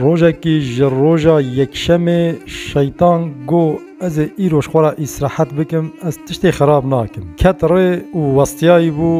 Rojekî ji roja yekşemê Şeytan got, Ez ê îroj xwe re îsrehet bikim, ez tiştê xerab nakim. Ket rê û westiyayî bû,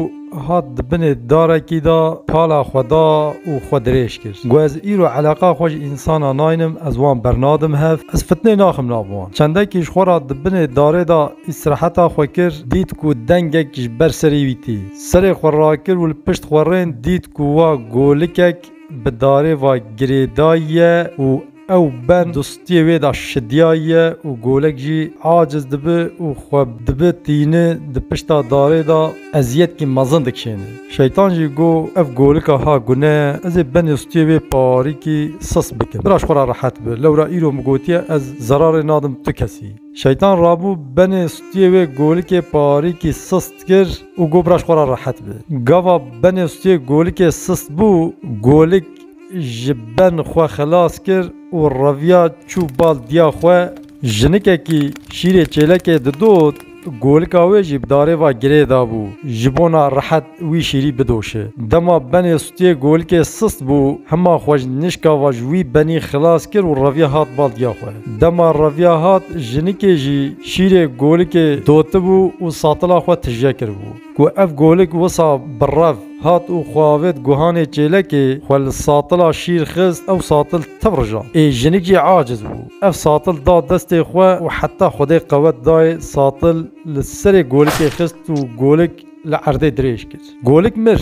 hat di binê darekî de pala xwe da û xwe dirêj kir. Got, Ez îro eleqa xwe ji însanan naynim, ez wan bernadim hev, ez fitnê naxim nav wan. Çendekî ji xwe re di binê darê de îsreheta xwe kir, dît ku dengek ji ber serê wî tê. Serê xwe rakir û li pişt xwe rên dît ku wa golikek bi darê va girêdayiye û ew ben dustiyê wê da şidiyayiye û golek jî aciz dibi û xwe dibi tîni di pişta darê da eziyetkî mezin dikşêni. Şeytan jî got, Ev golika ha gune ye, ez ê benê stiyê wê parîkî sis bikim. Biraj xwe ra rehet bi, lewra îro min gotiye ez zerarê nadim tu kesî. Şeytan rabû benê stiyê wê golikê parîkî sis Kir û got biraj xwe re rehet be. Gava benê stûyê golikê sist bû, golik ji ben xwe xilas kir û reviya çû bal diya xwe. Jinikekî şîrê çêlekê didot, golika wê jî bi darê ve girê dabû ji bona rehet wî şîrî bidoşe. Dema benê Kê golkê sist bû hima xwe ji nişka va ji wî benî xilas kir û reviya hat baldiya xwe. Dema reviya hat jinikê jî şîrê golikê dotibû û satila xwe tije kiribû. Ku ev golik wisa bi rev hat û xwe avêt guhanê çêlekê, xwe li satila şîr xist ew satil tev rijand. Ê jinik jî aciz bû. Ev satil da destê xwe û heta xwedê qewet dayê satil li serê golikê xist û golik li erdê dirêj kir. Golik mir.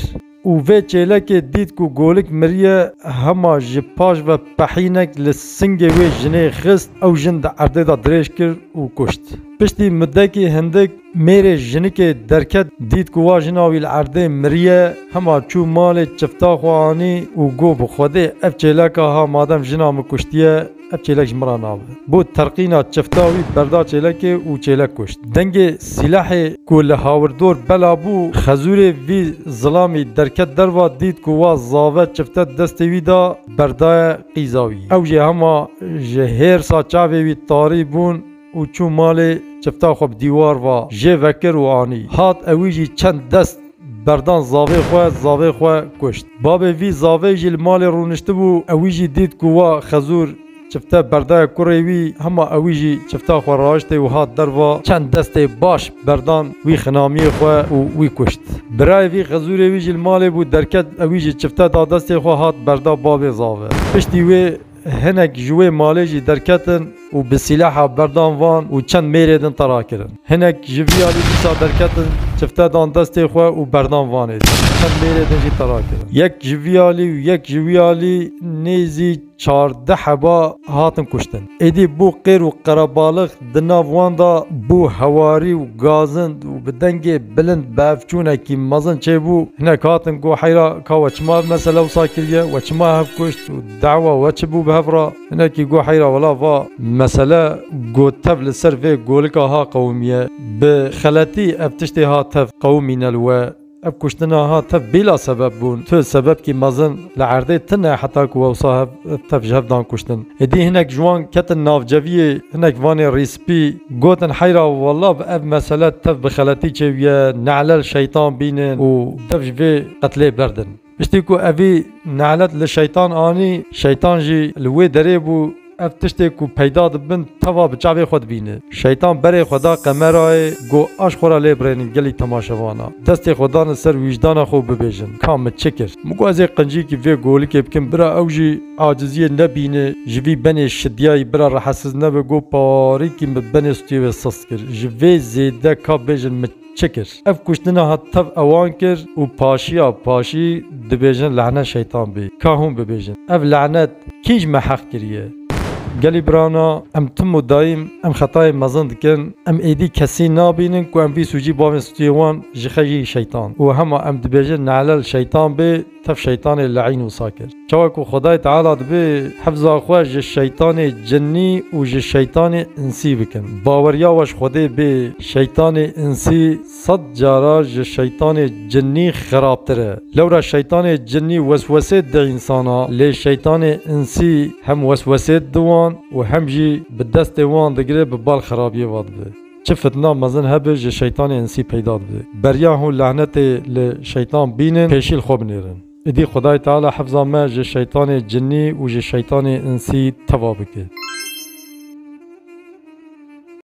Û vê çêlekê dît ku golik miriye, hema ji paş ve pehînek li singê wê jinê xist, ew jin di erdê de dirêj kir û kuşt. Piştî mudekî hindik mêrê jinikê derket, dît ku wa jina wî li erdê miriye, hema çû malê çifta xwe anî û got bi xwedê ev çêleka ha madem jina min kuştiye, Ev çêlek ji min re nabe. Bo terqîna çifta wî berda çêlekê û çêlek kuşt. Dengê sîlehê ku li hawirdor bela bû, xezûrê vî zilamî derket derva dît ku wa zave çifte destê wî da berdaye qîza wî. Ew jê hema ji hêrsa çavê wî tarî bûn. Û çû malê, çifta xwe bi dîwar ve jê vekir û anî. Hat e wî jî çend dest berdan zavê xwe, zavê xwe kuşt. Babê vî zavê jî li malê rûniştibû, e wî jî dît ku wa xezûr çifte berdaya kurê wî, hema e wî jî çifta xwe raiştê û hat derva çend destê baş berdan wî xinamiyê xwe û wî kuşt. Birayê vî xezûrê wî jî li malê bû, derket e wî jî çifte da destê xwe hat berda babê zave. Piştî wê. Hinek ji wê malê jî derketin û bi sîleha berdan van û çend mêrê din tera kirin. Hinek ji vî alî dîsa derketin, çifte dan destê xwe û berdan vanê din, çend mêrê din jî tera kirin. Yek ji vî alî û yek ji wî alî nêzî çardeh heba hatin kuştin. Êdî bû qêr û qerebalix di nav wan da bû hewarî û gazind û bi dengê bilind bevçûnekî mezin çêbû. Hinek hatin got heyra ka we çima mesele wisa kiriye, we çima hev kuşt û. Dawa we çi bû bi hev re? Hinekî got heyra wela va, Mesele got tev li ser vê golika ha qewimiye. Bi xeletî ev tiştê ha tev qewimîne li we. Ev kuştina ha tev bîla sebeb bûn. Tu sebebkî mezin li erdê ti ne heta ku wewsa hev tev ji hev dan kuştin. Êdî hinek ji wan ketin nav ceviyê, hinek vanê rîspî. Gotin heyra wela bi ev mesele tev bi xeletî çêwiye, neelel şeytan bînin û dev ji vê qetlê berdin. Piştî ku evî nelet li şeytan anî, şeytan jî li wê derê bû, ev tiştê ku peyda dibin teva bi çavê xwe dibîne. Şeytan berê xwe da qemerayê, got aş xwe ra lê birênin gelî temaşevana, destê xwe da li ser wîcdana xwe û bibêjin, ka min çi kir? Min got ez ê qincîkî vê golikê bikim, bira ew jî aciziyê nebîne, ji vî benê şidiyayî bira rehesiz nebe, got parîkî min benê stûyê wê sisk kir, ji vê zêde ka bêjin min Çi kir? Ev kuştina hat tev ewan kir û paşiya paşî dibêjin lehne şeytan bî. Ka hûn bibêjin ev lehnet kî ji me heq kiriye? Gelî birana em tim û daîm em xetayên mezin dikin, em êdî kesî nabînin ku em vî sûcî bavên stûyê wan ji xejî şeytan û hema em dibêjin nehlel şeytan bê, Tev şeytanê leîn wisa kir. Çawa ku Xwedayê Teala dibe hifza xwe ji şeytanê cinî û ji şeytanê insî bikin. Baweriya we ji Xwedê bê şeytanê insî sed cara ji şeytanê cinî xirabtir e. Lewra şeytanê cinî weswesê dide însana lê şeytanê insî hem weswesê dide wan û hem jî bi destê wan digire bi bal xirabiyê ve dibe. Çi fitna mezin hebe ji şeytanê insî peyda dibe. Beriya hûn lehnetê li şeytan bînin pêşî li xwe binêrin. Îdî Xwedayê Teala hifza me ji şeytanê cinî û ji şeytanê insî teva bike.